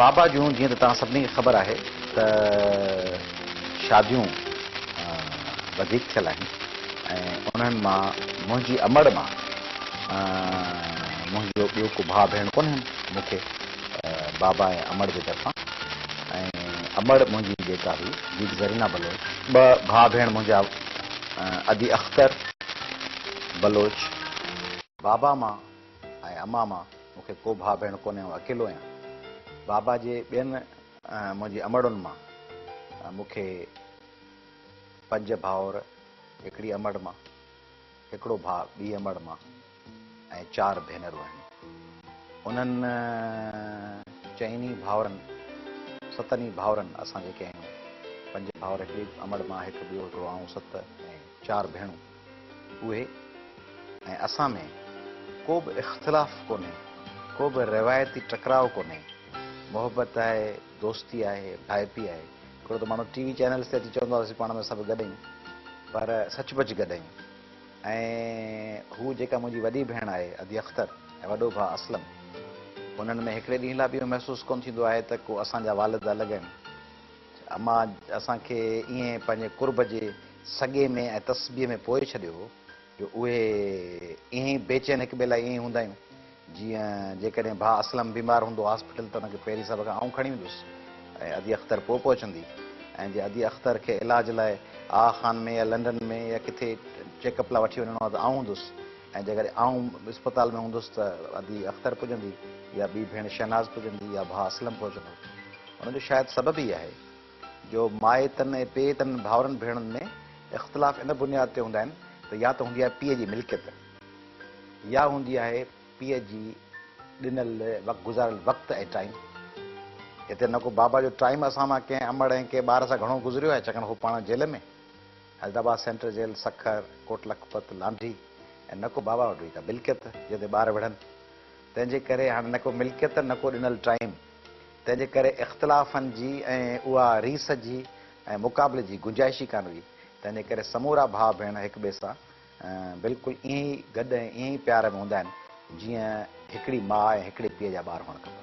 بابا جون جيئن ته توهان سڀني کي خبر آهي ته شاديون وڌيڪ ٿيل آهن ۽ انهن مان منهنجي امڙ مان منهنجو ٻيو ڪو ڀاء ڀيڻ ڪونهن مون کي بابا ۽ امڙ جي طرفان ۽ امڙ منهنجي جيڪا هئي جيڪ زرينا بلوچ ٻه ڀاء ڀيڻ منهنجا ادي اختر بلوچ، بابا مان ۽ اما مان مون کي ڪو ڀاء ڀيڻ ڪونهي آئون اڪيلو آهيان. بابا جي ٻين منهنجي امڙن مان مون کي پنج ڀائور هڪڙي امڙ مان، هڪڙو ڀاء ٻي امڙ مان ۽ چار ڀينرون آهن. انهن چئن ئي ڀائورن ستن ئي ڀائورن اسان جيڪي آهيون پنج ڀائور هڪڙي امڙ مان هڪ ٻيو هڪڙو آئون ست ۽ چار ڀيڻون. اهي ۽ اسان ۾ ڪو به اختلاف ڪونهي، ڪو به روايتي ٽڪراء ڪونهي، محبت آهي، دوستي آهي، ڀائپي آهي. هڪڙو ته ماڻهو ٽي وي چينلز تي اچي چوندو آهي اسين پاڻ ۾ سڀ گڏ آهيون پر سچ پچ گڏ آهيون ۽ هو جيڪا منهنجي وڏي ڀيڻ آهي ادي اختر ۽ وڏو ڀاء اسلم انهن ۾ هڪڙي ڏينهن لاء به اهو محسوس ڪونه ٿيندو آهي ته ڪو اسان جا والد الڳ آهن. اما اسان کي ائين پنهنجي قرب جي سڳي ۾ ۽ تسبيح ۾ پوئي ڇڏيو هو جو اهي ائين ئي بيچين هڪ ٻئي لاء ائين ئي هوندا آهيون جيئن جيڪڏهن ڀاء اسلم بيمار هوندو هاسپيٽل ته ان کي پيري صاحب کان آئون کڻي ويندس ۽ ادي اختر پوء پهچندي ۽ جي ادي اختر کي علاج لاء آغا خان ۾ يا لنڊن ۾ يا ڪٿي چيڪ اپ لاء وٺي وڃڻو آهي ته آئون هوندس ۽ جيڪڏهن آئون اسپتال ۾ هوندس ته ادي اختر پڄندي يا ٻي ڀيڻ شهناز پڄندي يا ڀاء اسلم پهچندو. ان جو شايد سبب ئي اهي جو مائيتن ۽ پيئتن ڀائرن ڀيڻن ۾ اختلاف ان بنياد تي هوندا آهن ته يا ته هوندي آهي پيء جي ملڪيت يا هوندي آهي پيء جي ڏنل گذاريل وقت ۽ ٽائيم. هتي نه ڪو بابا جو ٽائيم اسان مان ڪنهن امڙ ۽ ڪنهن ٻار سان گهڻو گذريو آهي ڇاڪاڻ هو پاڻ jail ۾. Hyderabad central jail, Sukkur, Kot Lakhpat, Landhi ۽ نڪو باواوٽ هئي ته ملڪيت جنهن تي ٻار وڙهن. تنهن جي ڪري هاڻ نڪو ملڪيت نڪو ڏنل ٽائيم. تنهن جي ڪري اختلافن جي ۽ اها ريس جي ۽ مقابلي جي گنجائش ئي ڪانه هئي. تنهن جي ڪري سمورا ڀاء ڀيڻ هڪ ٻئي سان بلڪل ائين ئي گڏ ۽ ائين ئي پيار ۾ هوندا آهن جيئن هڪڙي ماء ۽ هڪڙي پيء جا ٻار هئڻ کپن.